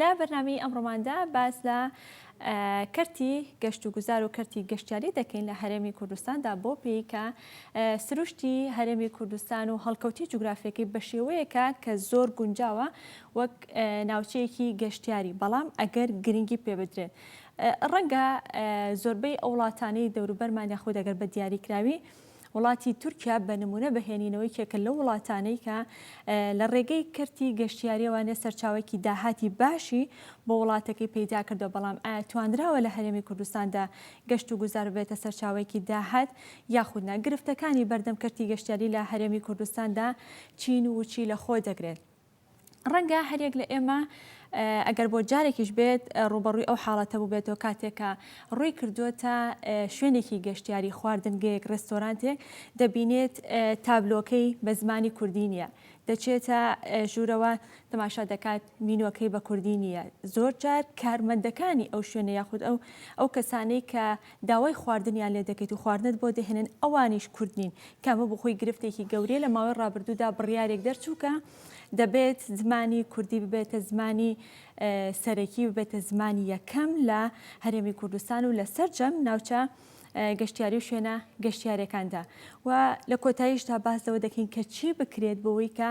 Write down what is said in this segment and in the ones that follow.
لە بەرنامەی ئەمڕۆماندا باس لە کەرتی گەشت و گوزار و کەرتی گەشتیاری دەکەین لە هەرێمی کوردستاندا بۆ پێی کە سروشتی هەرێمی کوردستان و هەڵکەوتی جوگرافیەکەی بە شێوەیەکە کە زۆر گونجاوە وەک ناوچەیەکی گەشتیاری بەڵام ئەگەر گرنگی پێ بدرێت ڕەنگە زۆربەی ئەو وڵاتانەی دەوروبەرمان یاخود ئەگەر بە دیاریکراوی وڵاتی تورکیا بە نموونە بەهێنینەوەی کێکە لەو وڵاتانەی کە لە ڕێگەی کەرتی گەشتیاریەوانێ سەرچاوێکی داهاتی باشی بۆ وڵاتەکەی پەیدا کردو بەڵام ئایا تواندراوە لە هەرێمی کوردستاندا گەشت و گوزار بێتە سەرچاوێکی داهات یاخود نا گرفتەکانی بەردەم کەرتی گەشتیاری لە هەرێمی کوردستاندا چین و چی لە خۆ دەگرێت ڕەنگە هەریەک لە ئێمە ئەگەر بۆ جارێکیش بێت ڕوبەڕووی ئەو حاڵەتە بووبێتەوە کاتێکە ڕووی کردووەتە شوێنێکی گەشتیاری خواردنگەیەک ڕێستۆرانتێک دەبینێت تابلۆکەی بە زمانی کوردی نیە دەچێتە ژوورەوە تەماشا دەکات مینۆکەی بە کوردی نیە زۆر جار کارمەندەکانی ئەو شوێنە یاخود ئەو ئەو کەسانەی کە داوای خواردنیان لێ دەکەیت و خواردنت بۆ دەهێنن ئەوانیش کورد نین کە ئەمە بۆخۆی گرفتێکی گەورەیە لە ماوەی ڕابردوودا بڕیارێک دەرچوو کە دەبێت زمانی کوردی ببێتە زمانی سەرەکی ببێتە زمانی یەکەم لە هەرێمی کوردستان و لە سەرجەم ناوچە گەشتیاری و شوێنە گەشتیارەکاندا و لە کۆتاییشدا باس لەوە دەکەین کە چی بکرێت بۆەوەی کە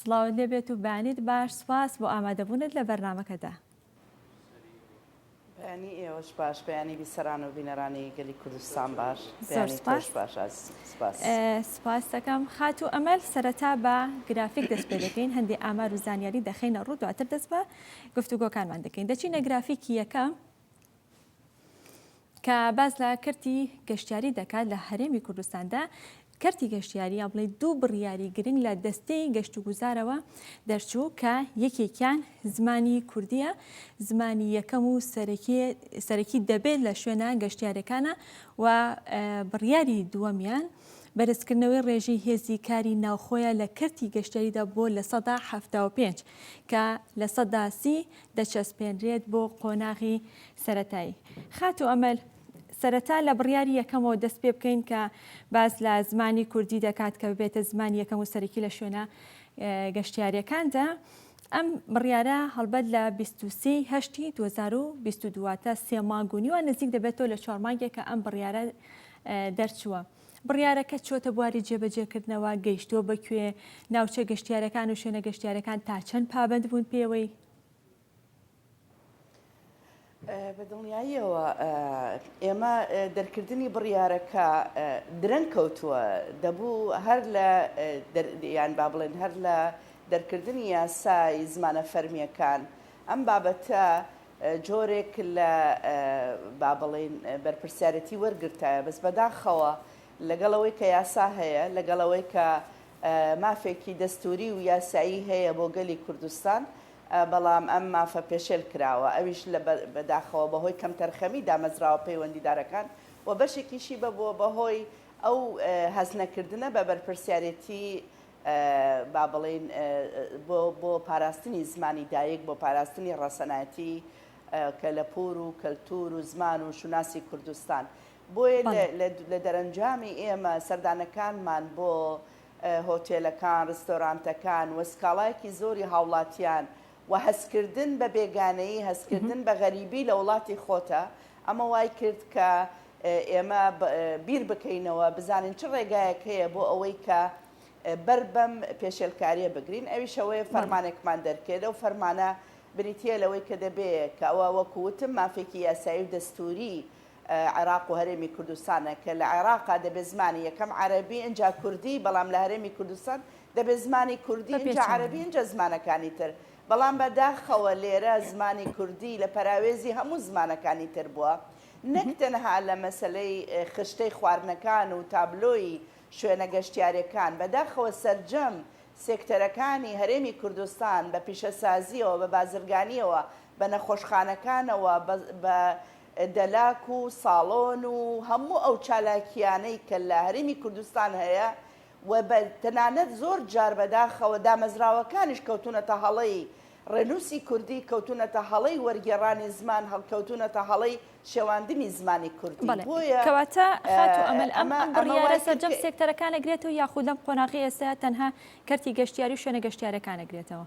سڵاوت لێ بێت و بەیانیت باش سوپاس بۆ ئامادەبوونت لە بەرنامەکەدا. بەیانی ئێوەش باش بەیانی بیسەران و بینەرانی گەلی کوردستان باش زۆر بەیانی سوپاس تۆش باش ئازیز سوپاس. سوپاست دەکەم خاتوو ئەمەل، سەرەتا بە گرافیک دەست پێ دەکەین هەندێ ئامار و زانیاری دەخەینە ڕوو دواتر دەست بە گفتوگۆکانمان دەکەین دەچینە گرافیکی یەکەم. کە باس لە کەرتی گەشتیاری دەکات لە هەرێمی کوردستاندا کەرتی گەشتیاری یا بڵێ دوو بڕیاری گرنگ لە دەستەی گەشت و گوزارەوە دەرچوو کە یەکێکیان زمانی کوردیە زمانی یەکەم و سەرەکی دەبێت لە شوێنە گەشتیارەکانە و بڕیاری دووەمیان بەرزکردنەوەی ڕێژەی هێزی کاری ناوخۆیە لە کەرتی گەشتیاریدا بۆ لە سەدا ه پێنج کە لە سەدا سی دەچەسپێنرێت بۆ قۆناغی سەرەتایی. خاتوو ئەمەل، سەرەتا لە بڕیاری یەکەمەوە دەست پێ بکەین کە باس لە زمانی کوردی دەکات کە ببێتە زمانی یەکەم و سەرەکی لە شوێنە گەشتیاریەکاندا. ئەم بڕیارە هەڵبەت لە بیست و سێ ی هەشتی دوو هەزار و بیست و دوو واتە سێ مانگ و نیوە نزیک دەبێتەوە لە چوار مانگێک کە ئەم بڕیارە دەرچووە. بڕیارەکە چۆتە بواری جێبەجێکردنەوە، گەیشتووە بە کوێ، ناوچە گەشتیارەکان و شوێنە گەشتیارەکان تا چەند پابەند بوون پێوەی؟ بە دڵنیاییەوە ئێمە دەرکردنی بڕیارەکە درەنگ کەوتووە دەبوو هەر لە یان با بڵێن هەر لە دەرکردنی یاسای زمانە فەرمییەکان ئەم بابەتە جۆرێک لە با بڵێین بەرپرسیارێتی وەرگرتایە بەس بەداخەوە لەگەڵ ئەوەی کە یاسا هەیە لەگەڵ ئەوەی کە مافێکی دەستوری و یاسایی هەیە بۆ گەلی کوردستان بەڵام ئەم مافە پێشێل کراوە ئەویش لە بەداخەوە بەهۆی کەمتەرخەمی دامەزراوە پەیوەندیدارەکان و بەشێکیشی بەبووە بەهۆی ئەو هەست نەکردنە بە بەرپرسیارێتی با بڵێین بۆ بۆ پاراستنی زمانی دایک، بۆ پاراستنی ڕەسەنایەتی کەلەپوور و کەلتوور و زمان و شوناسی کوردستان. بۆیە لە لە لە دەرەنجامی ئێمە سەردانەکانمان بۆ هۆتێلەکان، ڕیستۆرانتەکان و سکاڵایەکی زۆری هاوڵاتیان و هەستکردن بە بێگانەیی، هەستکردن بە غەریبی لە وڵاتی خۆتە، ئەمە وای کرد کە ئێمە بیر بکەینەوە بزانین چ ڕێگایەک هەیە بۆ ئەوەی کە بەر بەم پێشێلکاریە بگرین، ئەویش ئەوەیە فەرمانێکمان دەرکرد، ئەو فەرمانە بریتییە لەوەی کە دەبێ کە ئەوە وەکو وتم مافێکی یاسایی و دەستووری عێراق و هەرێمی کوردستانە کە لە عێراقا دەبێ زمانی یەکەم عەرەبی ئینجا کوردی بەڵام لە هەرێمی کوردستان دەبێ زمانی کوردی ئینجا عەرەبی ئینجا زمانەکانی تر بەڵام بە داخەوە لێرە زمانی کوردی لە پەراوێزی هەموو زمانەکانی تر بووە نەک تەنها لە مەسەلەی خشتەی خواردنەکان و تابلۆی شوێنە گەشتیارێکان بە داخەوە سەرجەم سێکتەرەکانی هەرێمی کوردستان بە پیشەسازیەوە بە بازرگانیەوە بە نەخۆشخانەکانەوە بە دەلاک و ساڵۆن و هەموو ئەو چالاکییانەی کە لە هەرێمی کوردستان هەیە و بە تەنانەت زۆر جار بەداخەوە دامەزراوەکانیش کەوتوونەتە هەڵەی ڕێنووسی کوردی، کەوتوونەتە هەڵەی وەرگێڕانی زمان، هەڵکەوتوونەتە هەڵەی شێواندنی زمانی کوردی. بەڵێ. بۆیە کەواتە خاتوو ئەمەل ئەم ئەمە ئەم ئەمە وای بڕیارە کرد سەرجەم کە سێکتەرەکان ئەگرێتەوە یاخود لەم قۆناغەی ئێستایا تەنها کەرتی گەشتیاری و شوێنە گەشتیارەکان ئەگرێتەوە؟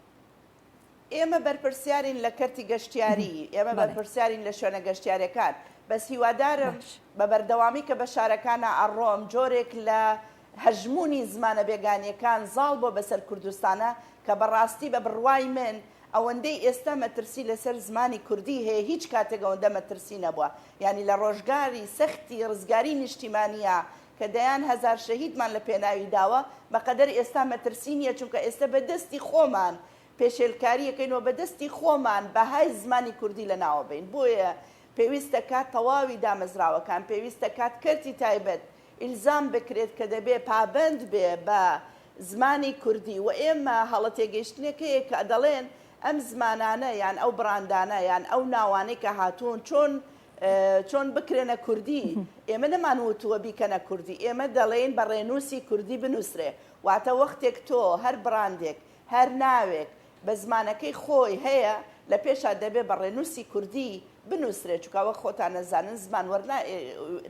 ئێمە بەرپرسیارین لە کەرتی گەشتیاری، ئێمە بەرپرسیارین لە شوێنە گەشتیارەکان، بەس هیوادارم بە بەردەوامی کە بە شارەکانا ئەڕۆم جۆرێک لە هەژموونی زمانە بێگانیەکان زاڵ بۆ بەسەر کوردستانا کە بە ڕاستی بە بڕوای من ئەوەندەی ئێستا مەترسی لە سەر زمانی کوردی هەیە هیچ کاتێک ئەوەندە مەترسی نەبووە یانی لە ڕۆژگاری سەختی ڕزگاری نیشتیمانیا کە دەیان هەزار شەهیدمان لە پێناوی داوە، بە قەدەر ئێستا مەترسی نییە، چونکە ئێستە بە دەستی خۆمان پێشێلکاری ئەکەین و بە دەستی خۆمان بەهای زمانی کوردی لە ناو ئەبەین، بۆیە پێویستە کات تەواوی دامەزراوەکان، پێویستە کات کەرتی تایبەت ئیلزام بکرێت کە دەبێ پابەند بێ بە زمانی کوردی و ئێمە هەڵە تێگەیشتنێک هەیە کە دەڵێن ئەم زمانانە یان ئەو بڕاندانە یان ئەو ناوانەی کە هاتوون چۆن چۆن بکرێنە کوردی؟ ئێمە نەمان وتووە بیکەنە کوردی، ئێمە دەڵێین بە ڕێنووسی کوردی بنووسرێ. واتە وەختێک تۆ هەر بڕاندێک، هەر ناوێک بە زمانەکەی خۆی هەیە، لە پێشا دەبێ بە ڕێنووسی کوردی بنووسرێ، چونکا وەک خۆتان ئەزانن زمان وەرنا،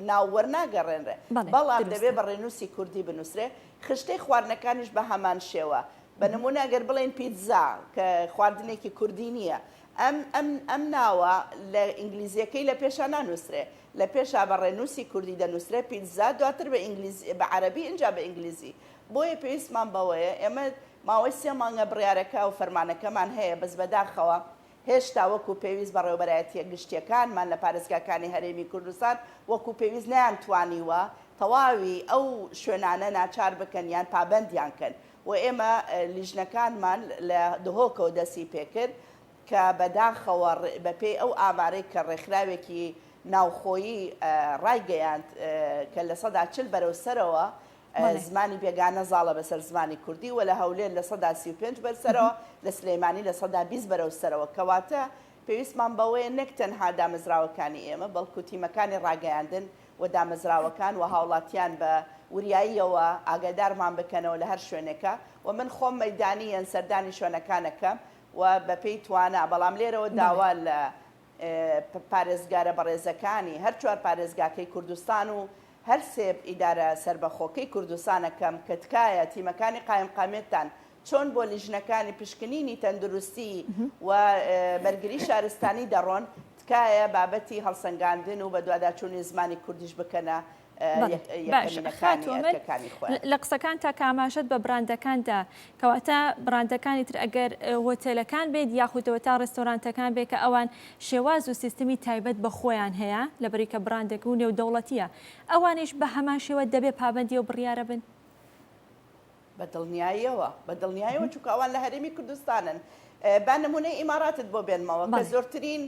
ناو وەرناگەڕێنرێ، بەڵام دەبێ بە ڕێنووسی کوردی بنووسرێ. خشتەی خواردنەکانیش بە هەمان شێوە. بە نموونە ئەگەر بڵێین پیتزا، کە خواردنێکی کوردی نییە، ئەم ئەم ئەم ناوە لە ئینگلیزیەکەی لە پێشا نانوسرێ لە پێشا بە ڕێنوسی کوردی دەنوسرێ پیتزا دواتر بە ئینگلیز بە عەرەبی ئینجا بە ئینگلیزی بۆیە پێویستمان بەوەیە ئێمە ماوەی سێ مانگە بڕیارەکە و فەرمانەکەمان هەیە بەس بەداخەوە هێشتا وەکو پێویست بەڕێوەبەرایەتیە گشتیەکانمان لە پارێزگاکانی هەرێمی کوردستان وەکو پێویست نەیان توانیوە تەواوی ئەو شوێنانە ناچار بکەن یان پابەندیان کەن و ئێمە لیژنەکانمان لە دهۆکەوە دەستی پێکرد کە بە داخەوە بە پێی ئەو ئامارەی کە ڕێکخراوێکی ناوخۆیی ڕایگەیاند کە لە سەدا چل بەرەو سەرەوە زمانی بێگانە زاڵە بەسەر زمانی کوردی و لە هەولێر لە سەدا سی و پێنج بەرسەرەوە لە سلەیمانی لە سەدا بیست بەرەو سەرەوە کەواتە پێویستمان بەوەیە نەک تەنها دامەزراوەکانی ئێمە بەڵکو تیمەکانی ڕاگەیاندن و دامەزراوەکان و هاوڵاتیان بە وریاییەوە ئاگادارمان بکەنەوە لە هەر شوێنێکە و من خۆم مەیدانییەن سەردانی شوێنەکانەکەم و بە پێی توانا بەڵام لێرەوە داوا لە پارێزگارە بەڕێزەکانی هەر چوار پارێزگاکەی کوردستان و هەر سێ ئیدارە سەربەخۆکەی کوردستانەکەم کە تکایە تیمەکانی قایمقامیەتتان چۆن بۆ لیژنەکانی پشکنینی تەندروستی و بەرگری شارستانی دەڕۆن، تکایە بابەتی هەڵسەنگاندن و بەدواداچوونی زمانی کوردیش بکەنە یەکەمینەکانی ئەرکەکانی خۆیان. لە قسەکانتا کە ئاماژەت بە بڕاندەکان دا، کەواتە بڕاندەکانی تر ئەگەر هۆتێلەکان بێت یاخود ئەوەتا ڕێستۆرانتەکان بێت کە ئەوان شێواز و سیستمی تایبەت بە خۆیان هەیە لەبری کە بڕاندێک و نێودەوڵەتییە ئەوانیش بە هەمان شێوە دەبێ پابەندی ئەو بڕیارە بن؟ بە دڵنیایەوە، بە دڵنیایەوە چونکە ئەوان لە هەرێمی کوردستانن. با نموونەی ئیماڕاتت بۆ بێنمەوە کە زۆرترین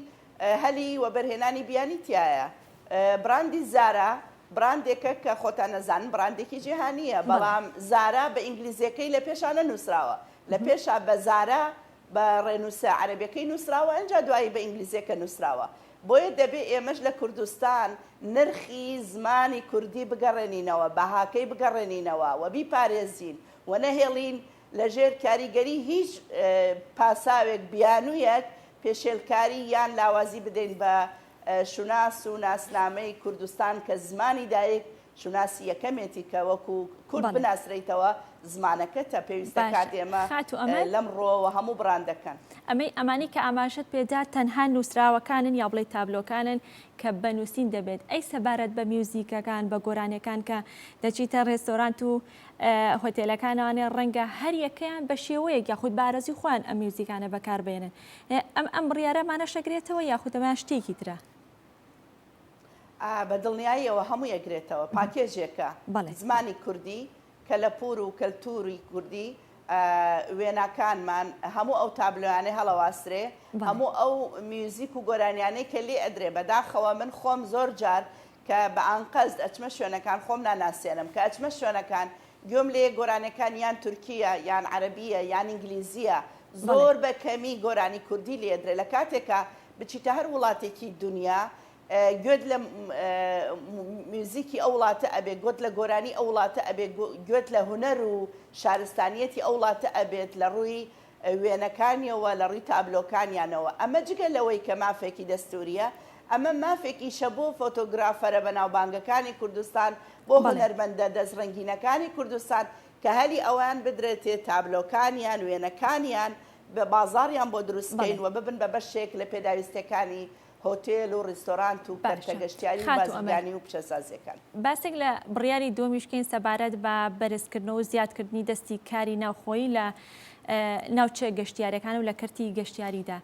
هەلی وەبەرهێنانی بیانی تیایە. بڕاندی زارا بڕاندێکە کە خۆتان ئەزانن بڕاندێکی جیهانییە، بەڵام زارا بە ئینگلیزییەکەی لە پێشا نەنووسراوە، لە پێشا بە زارا بە ڕێنووسە عەرەبیەکەی نووسراوە ئنجا دوایی بە ئینگلیزیەکە نووسراوە بۆیە دەبێ ئێمەش لە کوردستان نرخی زمانی کوردی بگەڕێنینەوە بەهاکەی بگەڕێنینەوە و بیپارێزین و نەهێڵین لە ژێر کاریگەری هیچ پاساوێک بیانوویەک پێشێلکاری یان لاوازی بدەین بە شوناس و ناسنامەی کوردستان کە زمانی دایک شوناسی یەکەمێتی کە وەکو کورد بناسرێیتەوە زمانەکەتە پێویستە کات ئێمە لەم ڕوەوە هەموو بڕاندەکەن. ئەمەی ئەمانی کە ئاماژەت پێ دا تەنها نوسراوەکانن یا بڵێی تابلۆکانن کە بە نوسین دەبێت ئەی سەبارەت بە میوزیکەکان بە گۆرانیەکان کە دەچیتە ڕێستۆرانت و هۆتێلەکانەوانێ ڕەنگە هەر یەکەیان بە شێوەیەک یاخود بارەزی خۆیان ئەم میوزیکانە بەکاربێنن ئەم ئەم بڕیارەمانەشەگرێتەوە یاخود ئەمەیان شتێکی ترە؟ بە دڵنیاییەوە هەمووی ئەگرێتەوە، پاکێجێکە بەڵێ. زمانی کوردی، کەلەپوور و کەلتووری کوردی، وێناکانمان، هەموو ئەو تابلۆیانەی هەڵەواسترێ، بەڵێ. هەموو ئەو میوزیک و گۆرانیانەی کە لێ ئەدرێ، بەداخەوە من خۆم زۆر جار کە بە ئانقەست ئەچمە شوێنەکان خۆم ناناسێنم، کە ئەچمە شوێنەکان گوێم لێیە گۆرانیەکان یان تورکییە یان عەرەبییە یان ئینگلیزییە، بەڵێ. زۆر بە کەمی گۆرانی کوردی لێ ئەدرێ، لە کاتێکا بچیتە هەر وڵاتێکی دونیا گوێت لە میوزیکی ئەو وڵاتە ئەبێت گوت لە گۆرانی ئەو وڵاتە ئەبێت گوێت لە هونەر و شارستانیەتی ئەو وڵاتە ئەبێت لە ڕووی وێنەکانیەوە لە ڕووی تابلۆکانیانەوە ئەمە جگە لەوەی کە مافێکی دەستوریە ئەمە مافێکیشە بۆ فۆتۆگرافەرە بەناوبانگەکانی کوردستان بۆ هونەرمەندە دەست ڕنگینەکانی کوردستان کە هەلی ئەوان بدرێتێ تابلۆکانیان وێنەکانیان بازاڕیان بۆ دروست بکەین و ببن بە بەشێک لە پێداویستییەکانی هۆتێل و ڕیستۆرانت و کەرتە گەشتیاری و بازرگانی و پیشەسازییەکان. باسێک لە بڕیاری دووەمیش بکەین سەبارەت بە بەرزکردنەوە و زیادکردنی دەستی کاری ناوخۆیی لە ناوچە گەشتیارەکان و لە کەرتی گەشتیاریدا.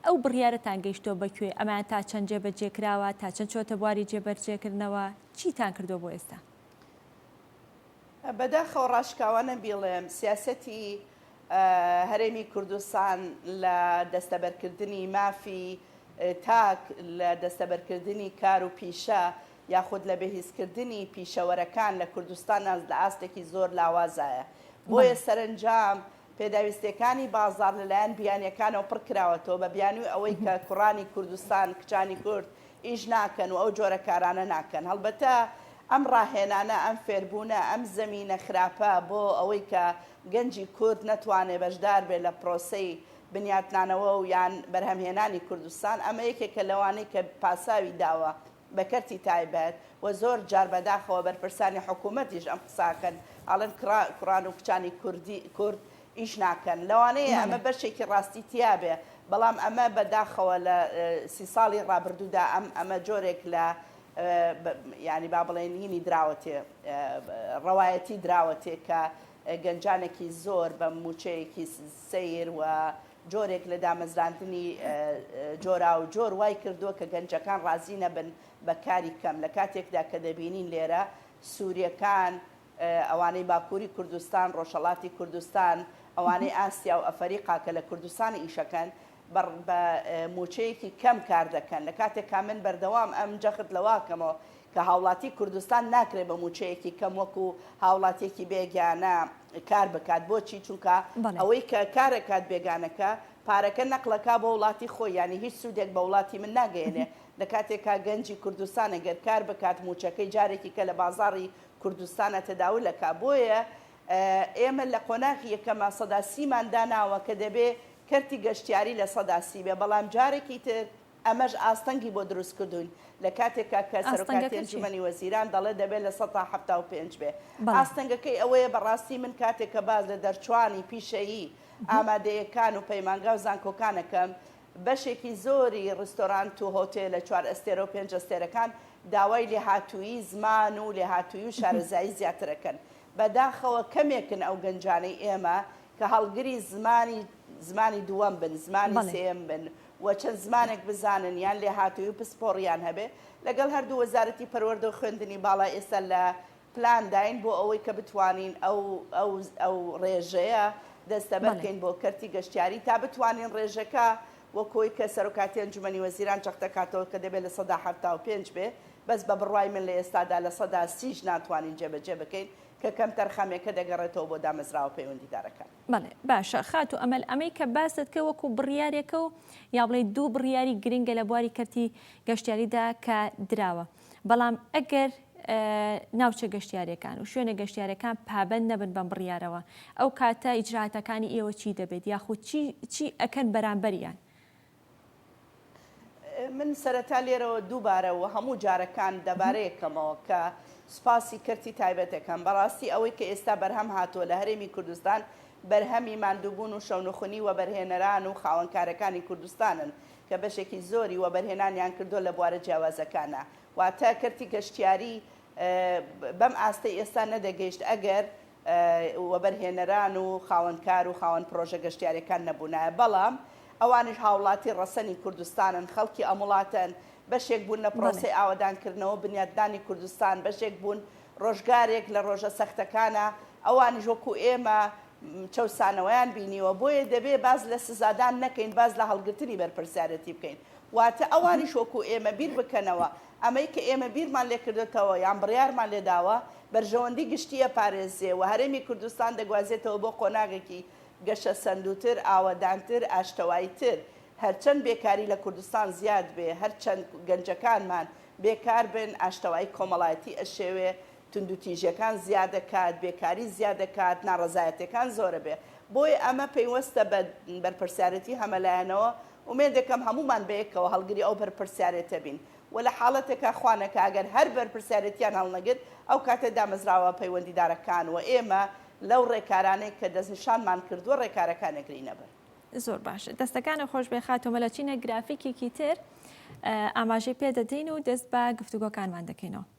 ئەو بڕیارەتان گەیشتووە بە کوێ؟ ئەمەیان تا چەند جێبەجێ کراوە؟ تا چەند چۆتە بواری جێبەرجێکردنەوە؟ چیتان کردووە بۆ ئێستا؟ بەداخەوە ڕاشکاوانە بیڵێم سیاسەتی هەرێمی کوردستان لە دەستەبەرکردنی مافی تاک، لە دەستەبەرکردنی کار و پیشە یاخود لە بەهیزکردنی پیشەوەرەکان لە کوردستانا لە ئاستێکی زۆر لاوازایە. بۆیە سەرەنجام پێداویستیەکانی بازاڕ لەلایەن بیانیەکانەوە پڕکراوەتەوە بە بیانوی ئەوەی کە کوڕانی کوردستان، کچانی کورد ئیش ناکەن و ئەو جۆرە کارانە ناکەن. هەڵبەتە ئەم ڕاهێنانە، ئەم فێربوونە، ئەم زەمینە خراپە بۆ ئەوەی کە گەنجی کورد نەتوانێ بەشدار بێ لە پرۆسەی بنیاتنانەوە و یان بەرهەمهێنانی کوردستان، ئەمە یەکێکە لەوانەی کە پاساوی داوە بە کەرتی تایبەت و زۆر جار بەداخەوە بەرپرسانی حکوومەتیش ئەم قساکەن، ئەڵێن کوڕان و کچانی کورد ئیش ناکەن لەوانەیە ئەمە بەشێکی ڕاستی تیابێ بەڵام ئەمە بە داخەوە لە سی ساڵی ڕابردوودا ئەم ئەمە جۆرێک لە ینی با بڵێن هینی دراوەتێ ڕەوایەتی دراوەتێ کە گەنجانێکی زۆر بە موچەیەکی سیر و جۆرێک لە دامەزراندنی جۆرا و جۆر وای کردووە کە گەنجەکان ڕازی نەبن بە کاری کەم لە کاتێکدا کە دەبینین لێرە سووریەکان ئەوانەی باکووری کوردستان، ڕۆژهەڵاتی کوردستان، ئەوانەی ئاسیا و ئەفەریقا کە لە کوردستان ئیشەکەن، بە مووچەیەکی کەم کار دەکەن، لە کاتێکا من بەردەوام ئەم جەخت لەوە ئەکەمەوە کە هاوڵاتی کوردستان ناکرێ بە مووچەیەکی کەم وەکوو هاوڵاتییەکی بێگانە کار بکات، بۆچی؟ چونکا ئەوەی کە کار ئەکات بێگانەکە، پارەکە نەقل ئەکا بۆ وڵاتی خۆی، یانی هیچ سوودێک بە وڵاتی من ناگەیەنێ، لە کاتێکا گەنجی کوردستان ئەگەر کار بکات، مووچەکەی جارێکیکە لە بازاڕی کوردستانە تەداول ئەکا بۆیە ئێمە لە قۆناغی یەکەما سەدا سی مان داناوە کە دەبێ کەرتی گەشتیاری لە سەدا سی بێ بەڵام جارێکی تر ئەمەش ئاستەنگی بۆ دروست کردووین لە کاتێکا کە سەرۆکاتی ئەنجومەنی وەزیران دەڵێ دەبێ لە سەدا حەفتا و پێنج بێ ئاستەنگەکەی ئەوەیە بەڕاستی من کاتێک کە باس لە دەرچوانی پیشەیی ئامادەیەکان و پەیمانگا و زانکۆکان ئەکەم بەشێکی زۆری ڕیستۆرانت و هۆتێلە چوار ئەستێرە و پێنج ئەستێرەکان داوای لێهاتوویی زمان و لێهاتوویی و شارەزایی زیاتر ئەکەن. بە داخەوە کەمێکن ئەو گەنجانەی ئێمە کە هەڵگری زمانی زمانی دووەم بن، زمانی بەڵێ. سێیەم بن و چەند زمانێک بزانن یان لێهاتوویی و پسپۆڕییان هەبێ. لەگەڵ هەردوو وەزارەتی پەروەردە و خوێندنی باڵا ئێستا لە پلان داین بۆ ئەوەی کە بتوانین ئەو ڕێژەیە دەستەبەر بکەین بۆ کەرتی گەشتیاری تا بتوانین ڕێژەکە وەکۆی کە سەرۆکاتی ئەنجومەنی وەزیران جەختەکاتەوە کە دەبێت لە سەدا حەفتا و پێنج بێ بەس بە بڕوای من لە ئێستادا لە سەدا سیش ناتوانین جێبەجێ بکەین کە کەمتەرخەمیەکە دەگەڕێتەوە بۆ دامەزراوە پەیوەندیدارەکان. بەڵێ باشە خاتوو ئەمەل ئەمەی کە باست کرد وەکو بڕیارێکە و یا بڵێی دوو بڕیاری گرنگە لە بواری کەرتی گەشتیاریدا کە دراوە. بەڵام ئەگەر ناوچە گەشتیارەکان و شوێنە گەشتیارەکان پابەند نەبن بەم بڕیارەوە ئەو کاتە ئیجراتەکانی ئێوە چی دەبێت یاخود چی ئەکەن بەرامبەریان؟ من سەرەتا لێرەوە دووبارە و هەموو جارەکان دەبارەیەکەمەوە کە سپاسی کەرتی تایبەتەکەم بەڕاستی ئەوەی کە ئێستا بەرهەم هاتووە لە هەرێمی کوردستان بەرهەمی ماندووبوون و شەونخونی وەبەرهێنەران و خاوەنکارەکانی کوردستانن کە بەشێکی زۆری وەبەرهێنانیان کردووە لە بوارە جیاوازەکانا، واتە کەرتی گەشتیاری بەم ئاستەی ئێستا نەدەگەیشت ئەگەر وەبەرهێنەران و خاوەن کار و خاوەن پرۆژە گەشتیاریەکان نەبوونایە، بەڵام ئەوانیش هاوڵاتی ڕەسەنی کوردستانن، خەڵکی ئەم وڵاتەن، بەشێک بوون لە پرۆسەی ئاوەدانکردنەوە و بنیاتنانی کوردستان، بەشێک بوون ڕۆژگارێک لە ڕۆژە سەختەکانا ئەوانیش وەکو ئێمە، چەوسانەوەیان بینیوە، بۆیە دەبێت باس لە سزادان نەکەین، باس لە هەڵگرتنی بەرپرسیارەتی بکەین، واتە ئەوانیش وەکو ئێمە بیر بکەنەوە، ئەمەی کە ئێمە بیرمان لێکردۆتەوە یان بڕیارمان لێداوە، بەرژەوەندی گشتی ئەپارێزێ و هەرێمی کوردستان دەگوازێتەوە بۆ قۆناغێکی گەشەسەندووتر، ئاوەدانتر، ئاشتەوایتر، هەرچەند بێکاری لە کوردستان زیاد بێ، هەرچەند گەنجەکانمان بێکار بن، ئاشتەوایی کۆمەڵایەتی ئەشێوێ، توندوتیژیەکان زیادەکات، بێکاری زیادەکات، ناڕەزایەتیەکان زۆرەبێ، بۆیە ئەمە پەیوەستە بە بەرپرسیارێتی هەمەلایەنەوە، ئومێدەکەم هەموومان بەیەکەوە هەڵگری ئەو بەرپرسیارێتە بین و لە حاڵەتێکا خوانەکا ئەگەر هەر بەرپرسیارێتیان هەڵنەگرت ئەو کاتە دامەزراوە پەیوەندیدارەکان و ئێمە لەو ڕێکارانەی کە دەستنیشانمان کردووە ڕێکارەکان ئەگرینە بەر. زۆر باش، دەستەکانت خۆشبێ خاتوو مەلا چینە گرافیکێکی تر ئاماژەی پێدەدەین و دەست بە گفتوگۆکانمان دەکەینەوە.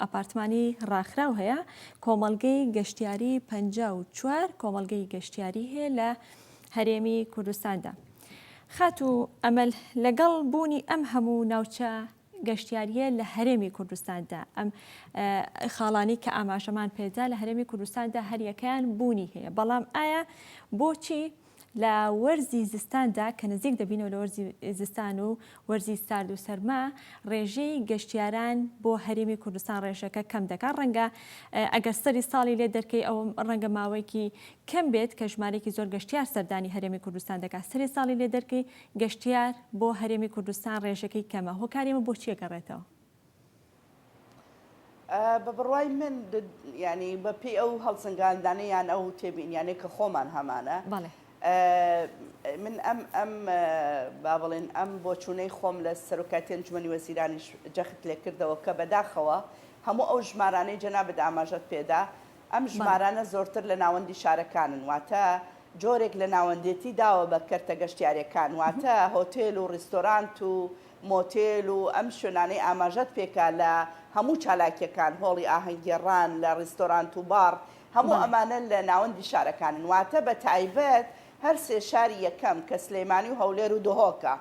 ئاپارتمانی ڕاخراو هەیە، کۆمەڵگەی گەشتیاری پەنجا و چوار کۆمەڵگەی گەشتیاری هەیە لە هەرێمی کوردستاندا. خاتوو ئەمەل، لەگەڵ بوونی ئەم هەموو ناوچە گەشتیاریە لە هەرێمی کوردستاندا ئەم خاڵانی کە ئاماژەمان پێدا لە هەرێمی کوردستاندا هەریەکەیان بوونی هەیە، بەڵام ئایا بۆچی لە وەرزی زستاندا کە نزیک دەبینەوە لە وەرزی زستان و وەرزی سارد و سەرما ڕێژەی گەشتیاران بۆ هەرێمی کوردستان ڕێژەکە کەم دەکات ڕەنگە ئەگەر سەری ساڵی لێ دەرکەی ئەوە ڕەنگە ماوەیەکی کەم بێت کە ژمارێکی زۆر گەشتیار سەردانی هەرێمی کوردستان دەکات سەری ساڵی لێ دەرکەی گەشتیار بۆ هەرێمی کوردستان ڕێژەکەی کەمە هۆکاریمە بۆچیە گەڕێتەوە بە بڕوای من ینی بە پێی ئەو هەڵسەنگاندانە یان ئەو تێبینیانەی کە خۆمان هەمانە من ئەم ئەم با بڵێن ئەم بۆ چوونەی خۆم لە سەرۆکاتی ئەنجومی وەزیرانیش جەخت لێ کردەوە کە بەداخەوە هەموو ئەو ژمارانەی جەنابەت ئاماژەت پێدا ئەم ژمارانە زۆرتر لە ناوەندی شارەکانن واتە جۆرێک لە ناوەندێتی داوە بە کەرتە گەشتیارەکان واتە هۆتێل و ڕیستۆرانت و مۆتێل و ئەم شوێنانەی ئاماژەت پێکا لە هەموو چالاکیەکان، هۆڵی ئاهەنگگێڕان، لە ڕیستۆرانت و باڕ، هەموو ئەمانە لە ناوەندی شارەکانن، واتە بە تایبەت هەر سێ شاری یەکەم کە سلێمانی و هەولێر و دهۆکە،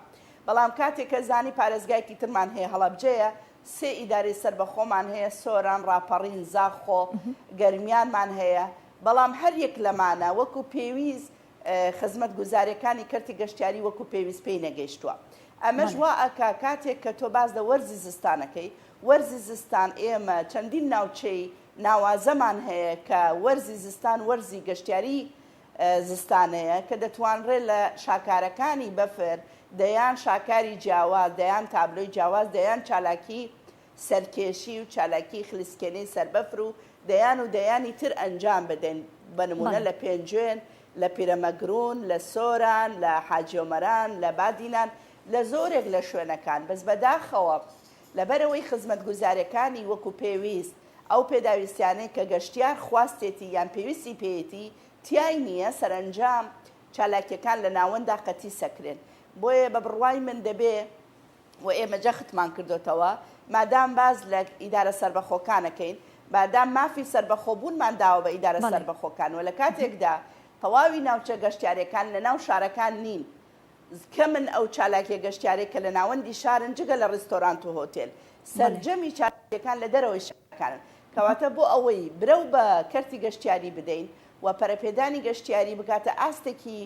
بەڵام کاتێ کە زانی پارێزگایەکی ترمان هەیە هەڵەبجەیە، سێ ئیدارەی سەربەخۆمان هەیە، سۆران، ڕاپەڕین، زاخۆ، گەرمیانمان هەیە، بەڵام هەر یەک لەمانە وەکو پێویست خزمەتگوزاریەکانی کەرتی گەشتیاری وەکو پێویست پێی نەگەیشتووە ئەمەش وا ئەکا کاتێک کە تۆ باس لە وەرزی زستان ئەکەی وەرزی زستان ئێمە چەندین ناوچەی ناوازەمان هەیە کە وەرزی زستان وەرزی گەشتیاری زستانەیە کە دەتوانرێ لە شاکارەکانی بەفر دەیان شاکاری جیاواز دەیان تابلۆی جیاواز دەیان چالاکی سەرکێشی و چالاکی خلیسکێنەی سەربەفر و دەیان و دەیانی تر ئەنجام بدەین، بە نموونە لە پێنجوێن، لە پیرەمەگروون، لە سۆران، لە حاجی ئۆمەران، لە بادینان، لە زۆرێک لە شوێنەکان، بەس بەداخەوە لەبەرئەوەی خزمەتگوزاریەکانی وەکو پێویست ئەو پێداویستیانەی کە گەشتیار خواستێتی یان پێویستی پێیەتی تیای نییە، سەرئەنجام چالاکیەکان لە ناوەنددا قەتیسەکرێن، بۆیە بە بڕوای من دەبێ. و ئێمە جەختمان کردۆتەوە مادام باس لە ئیدارە سەربەخۆکانەکەین بادام مافی سەربەخۆ بوونمان داوە بە ئیدارە سەربەخۆکان و لە کاتێکدا تەواوی ناوچە گەشتارەکان لە ناو شارەکان نین کەمن ئەو چالاکیە گەشتارێک کە لە ناوەندی شارن جگە لە ڕیستۆرانت و هۆتێل سەرجەمی چالاکیەکان لە دەرەوەی شارەکانن کەواتە بۆ ئەوەی برەو بە کەرتی گەشتیاری بدەین و پەرەپێدانی گەشتیاری بکاتە ئاستێکی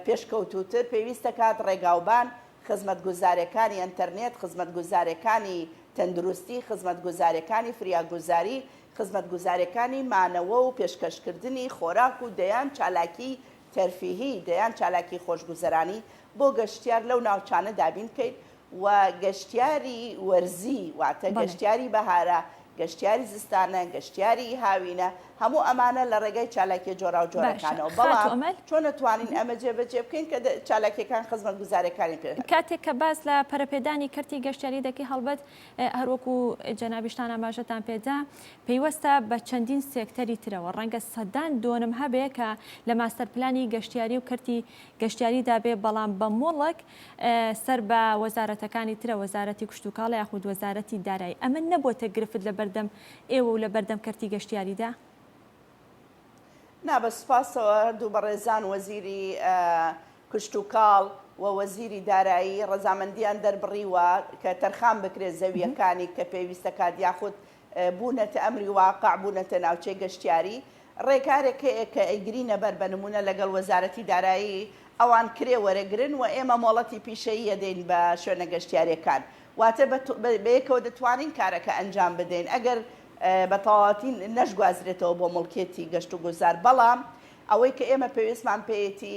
پێشکەوتوتر پێویستە کات ڕێگاوبان خزمەتگوزارێکانی ئەنتەرنێت، خزمەتگوزارێکانی تەندروستی، خزمەتگوزارێکانی فریاگوزاری، خزمەتگوزارێکانی مانەوە و پێشکەشکردنی خۆراک و دەیان چالاکی تەرفیهی، دەیان چالاکی خۆشگوزەرانی بۆ گەشتیار لەو ناوچانە دابین بکەین و گەشتیاری وەرزی واتە گەشتیاری بەهارە گەشتیاری زستانە، گەشتیاریی هاوینە، هەموو ئەمانە لە ڕێگای چالاکییە باشە جۆراوجۆرەکانەوە، خاتوو بەڵام ئەمەل. چۆن ئەتوانین ئەمە جێبەجێ بکەین کە چالاکییەکان خزمەتگوزارەکانی پێ. کاتێک کە باس لە پەرەپێدانی کەرتی گەشتیاری دەکەین، هەڵبەت هەر وەکوو جەنابیشتان ئاماژەتان پێ دا، پەیوەستە بە چەندین سێکتەری ترەوە، ڕەنگە سەدان دۆنم هەبێ کە لە ماستەرپلانی گەشتیاری و کەرتی گەشتیاریدا بێ، بەڵام بە مڵک سەر بە وەزارەتەکانی ترە، وەزارەتی کشتوکاڵ یاخود وەزارەتی دارایی، ئەمە نەبووەتە گرفت لە بەردەم ئێوە و لە بەردەم کەرتی گەشتیاریدا؟ نا بە سوپاسەوە هەردوو بەڕێزان وەزیری کشتوکاڵ و وەزیری دارایی ڕەزامەندییان دەربڕیوە کە تەرخان بکرێت زەوییەکانی کە پێویست دەکات یاخود بوونەتە ئەمری واقع، بوونەتە ناوچەی گەشتیاری، ڕێکارێک هەیە کە ئەیگرینە بەر بە نموونە لەگەڵ وەزارەتی دارایی ئەوان کرێ وەرەگرن و ئێمە مۆڵەتی پیشەیی ئەدەین بە شوێنە گەشتیاریەکان واتە بەیەکەوە دەتوانین کارەکە ئەنجام بدەین ئەگەر بە تەواوەتی نەشگوازرێتەوە بۆ موڵکێتی گەشت و گوزار بەڵام ئەوەی کە ئێمە پێویستمان پێیەتی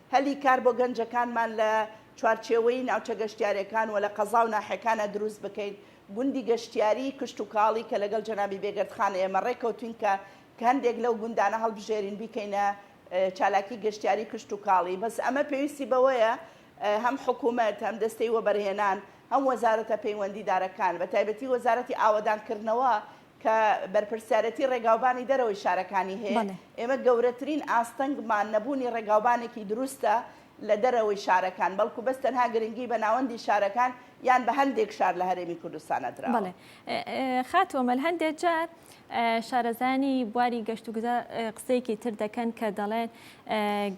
هەلی کار بۆ گەنجەکانمان لە چوارچێوەی ناوچە گەشتیارەکان و لە قەزا و ناحێکانە دروست بکەین، گوندی گەشتیاری کشتوکاڵی کە لەگەڵ جەنابی بێگەردخان ئێمە ڕێکەوتوین کە کە هەندێک لەو گوندانە هەڵبژێرین بیکەینە چالاکی گەشتیاری کشتوکاڵی بەس ئەمە پێویستی بەوەیە هەم حکومەت هەم دەستەی وەبەرهێنان هەم وەزارەتە پەیوەندیدارەکان بەتایبەتی وەزارەتی ئاوەدانکردنەوە کە بەرپرسیارێتی ڕێگاوبانی دەرەوەی شارەکانی هەیە، ئێمە گەورەترین ئاستەنگمان نەبوونی ڕێگاوبانێکی دروستە لە دەرەوەی شارەکان، بەڵکو بەس تەنها گرنگی بە ناوەندی شارەکان یان بە هەندێک شار لە هەرێمی کوردستان نەدراوە. بەڵێ خاتوو ئەمەل، هەندێک جار شارەزایانی بواری گەشتوگوزار قسەیەکی تر دەکەن کە دەڵێن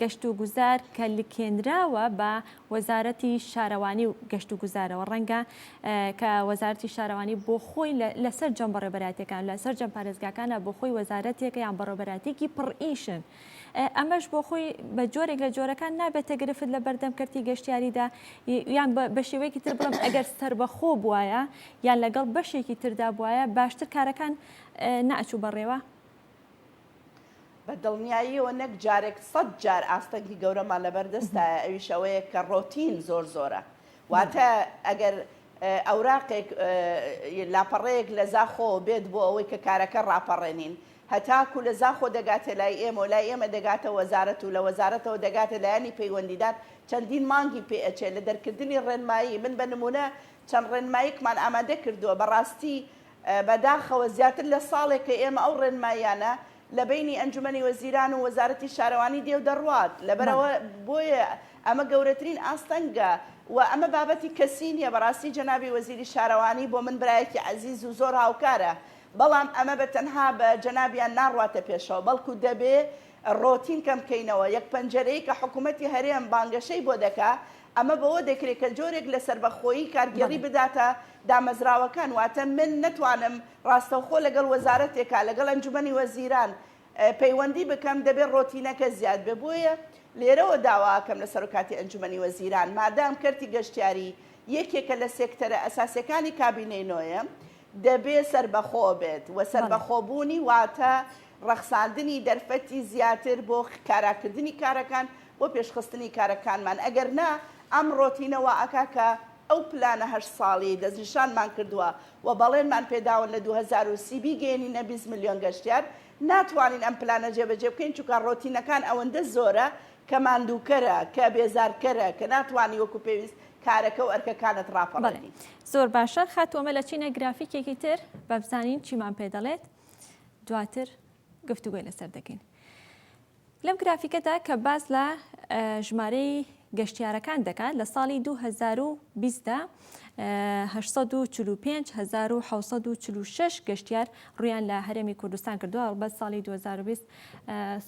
گەشتوگوزار کە لکێنراوە بە وەزارەتی شارەوانی و گەشت و گوزارەوە ڕەنگە کە وەزارەتی شارەوانی بۆ خۆی لە سەرجەم بەڕێبەراتەکان لە سەرجەم پارێزگاکانە بۆ خۆی وەزارەتێکە یان بەڕێبەراتێکی پڕئیشن ئەمەش بۆ خۆی بە جۆرێک لە جۆرەکان نابێتە گرفت لە بەردەم کەرتی گەشتیاریدا یان بە شێوەیەکی تر بڵم ئەگەر سربەخۆ بواە یان لەگەڵ بەشێکی تردا بواە باشتر کارەکان ناچوو بەڕێوە بە دڵنیاییەوە نەک جارێک سەد جار ئاستەنگی گەورەمان لەبەر دەستایە ئەویش ئەوەیە کە ڕۆتین زۆر زۆرە واتە ئەگەر ئەوراقێک لاپەڕەیەک لە زاخۆ بێت بۆ ئەوەی کە کارەکە ڕاپەڕێنین هەتاکو لە زاخۆ دەگاتێ لای ئێمە و لای ئێمە دەگاتە وەزارەت و لە وەزارەتەوە دەگاتە لایەنی پەیوەندیدار چەندین مانگی پێ ئەچێ لە دەرکردنی ڕێنمایی من بە نمونە چەند ڕێنماییکمان ئامادە کردووە بەڕاستی بە داخەوە زیاتر لە ساڵێکە ئێمە ئەو ڕێنماییانە لە بەینی ئەنجومەنی وەزیران و وەزارەتی شارەوانی دێ و دەڕوات لەبەرئەوە بۆیە ئەمە گەورەترین ئاستەنگە و ئەمە بابەتی کەسی نیە بەڕاستی جەنابی وەزیری شارەوانی بۆ من برایەکی عەزیز و زۆر هاوکارە بەڵام ئەمە بە تەنها بە جەنابیان ناڕواتە پێشەوە بەڵکو دەبێ ڕۆتین کەم کەینەوە یەک پەنجەرەی کە حکومەتی هەرێم بانگەشەی بۆ دەکا ئەمە بەوە دەکرێت کە جۆرێک لە سەربەخۆیی کارگێڕی بداتە دامەزراوەکان، واتە من نەتوانم ڕاستەوخۆ لەگەڵ وەزارەتێکا، لەگەڵ ئەنجومەنی وەزیران پەیوەندی بکەم، دەبێت ڕۆتینەکە زیاد بێت، بۆیە لێرەوە داواکەم لە سەرۆکاتی ئەنجومەنی وەزیران، مادام کەرتی گەشتیاری یەکێکە لە سێکتەرە ئەساسیەکانی کابینەی نۆیەم، دەبێت سەربەخۆ بێت و سەربەخۆبوونی واتە ڕەخساندنی دەرفەتی زیاتر بۆ کاراکردنی کارەکان، بۆ پێشخستنی کارەکانمان، ئەگەر نا ئەم ڕۆتینە وا ئەکا کە ئەو پلانە هەشت ساڵیەی دەستنیشانمان کردووە و بەڵێنمان پێداون لە دوو هەزار و سی بیگەیەنینە بیست ملیۆن گەشتیار، ناتوانین ئەم پلانە جێبەجێ بکەین چونکە ڕۆتینەکان ئەوەندە زۆرە کە ماندووکەرە، کە بێزارکەرە، کە ناتوانی وەکو پێویست کارەکە و ئەرکەکانت ڕاپەڕێنی. زۆر باشە خاتوو ئەمە لە چینە گرافیکێکی تر بابزانین چیمان پێ دەڵێت دواتر گفتوگۆی لەسەر دەکەین. لەم گرافیکەدا کە باس لە ژمارەی گەشتیارەکان دەکات لە ساڵی 2020 دا 845746 گەشتیار ڕویان لە هەرێمی کوردستان کردووە هەڵبەت ساڵی 2020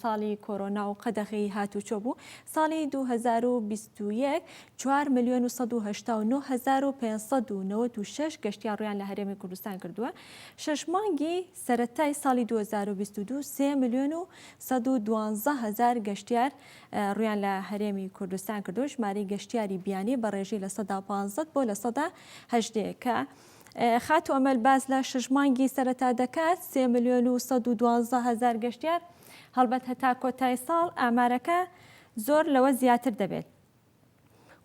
ساڵی کۆرۆنا و قەدەغی هاتوچۆ بوو ساڵی 2021 4 میلیۆن و 199596 گەشتیار ڕویان لە هەرێمی کوردستان کردووە شش مانگی سەرەتای ساڵی دوو هەزار و بیست و دوو سێ ملیۆن و سەد و دوازدە هەزار گەشتیار روویان لە هەرێمی کوردستان کردو ژمارەی گەشتیاری بیانی بە رێژەی لە سەدا پازدە بۆ لە سەدا هەژدە کە خاتوو ئەمەل باس لە شەش مانگی سەرەتا دەکات سێ ملیۆن و سەد و دوازدە هەزار گەشتیار هەڵبەت هەتا کۆتای ساڵ ئامارەکە زۆر لەوە زیاتر دەبێت.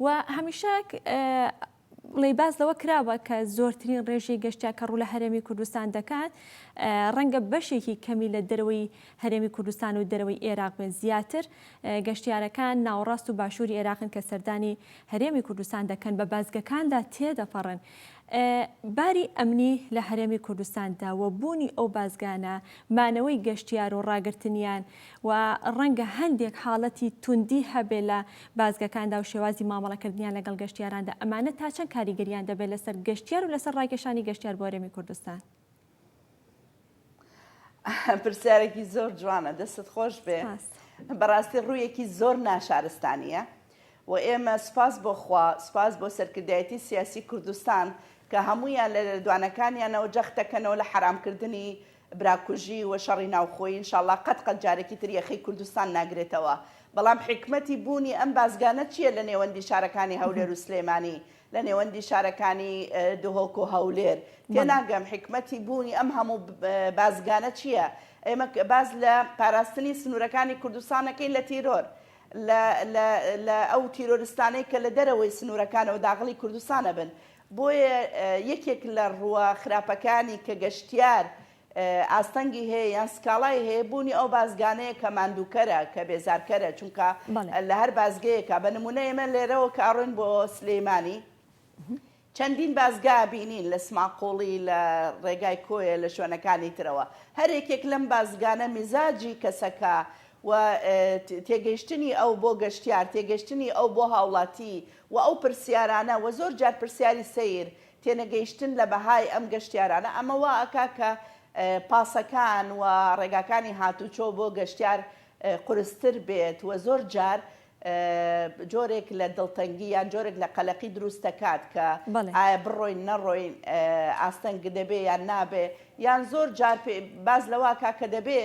و هەمیشە ڵێ باس لەوە کراوە کە زۆرترین ڕێژی گەشتیا کە ڕوو لە هەرێمی کوردستان دەکات ڕەنگە بەشێکی کەمی لە دەرەوەی هەرێمی کوردستان و دەرەوەی عێراق بێت زیاتر گەشتیارەکان ناوەڕاست و باشووری عێراقن کە سەردانی هەرێمی کوردستان دەکەن بە بازگەکاندا تێدەپەڕن باری ئەمنی لە هەرێمی کوردستاندا و بوونی ئەو بازگانە مانەوەی گەشتیار و ڕاگرتنیان و ڕەنگە هەندێک حاڵەتی توندی هەبێت لە بازگەکاندا و شێوازی مامەڵەکردنیان لەگەڵ گەشتیاراندا، ئەمانە تا چەند کاریگەرییان دەبێت لەسەر گەشتیار و لەسەر ڕاکێشانی گەشتیار بۆ هەرێمی کوردستان؟ پرسیارێکی زۆر جوانە، دەستت خۆش بێ، بەڕاستی ڕوویەکی زۆر ناشارستانیە و ئێمە سپاس بۆ خوا، سپاس بۆ سەرکردایەتی سیاسی کوردستان کە هەموویان لە لێدوانەکانیانەوە جەختەکەنەوە لە حەرامکردنی براکوژی و شەڕی ناوخۆیی انشاللە قەت قەت جارەکی تر یەخەی کوردستان ناگرێتەوە بەڵام حیکمەتی بوونی ئەم بازگانە چیە لە نێوەندی شارەکانی هەولێر و سلێمانی لە نێوەندی شارەکانی دهۆک و هەولێر تێناگەم حیکمەتی بوونی ئەم هەموو بازگانە چیە ئێمە باز لە پاراستنی سنوورەکانی کوردستانەکەی لە تیرۆر لە ئەو تیرۆرستانەی کە لە دەرەوەی سنوورەکانەوە داغڵی کوردستانە بن بۆیە یەکێک لە ڕووە خراپەکانی کە گەشتیار ئاستەنگی هەیە یان سکاڵای هەیە بوونی ئەو بازگانەیە کە ماندووکەرە کە بێزارکەرە چونکە لە هەر بازگەیەکە بە نمونە ئێمە لێرەوە کە ئەڕۆین بۆ سلێمانی چەندین بازگا بینین لە سماقوڵی لە ڕێگای کۆیە لە شوێنەکانی ترەوە هەر یەکێک لەم بازگانە میزاجی کەسەکە و تێگەیشتنی ئەو بۆ گەشتیار تێگەشتنی ئەو بۆ هاوڵاتی وە ئەو پرسیارانە وە زۆر جار پرسیاری سەیر تێنەگەیشتن لە بەهای ئەم گەشتیارانە ئەمە وا ئەکا کە پاسەکان وە ڕێگاکانی هاتوچۆ بۆ گەشتیار قورستر بێت وە زۆر جار جۆرێک لە دڵتەنگی یان جۆرێک لە قەلەقی دروست ئەکات کە ئایا بڕۆین نەڕۆین ئاستەنگ دەبێ یان نابێ یان زۆر جار باس لەوە ئەکا کە دەبێ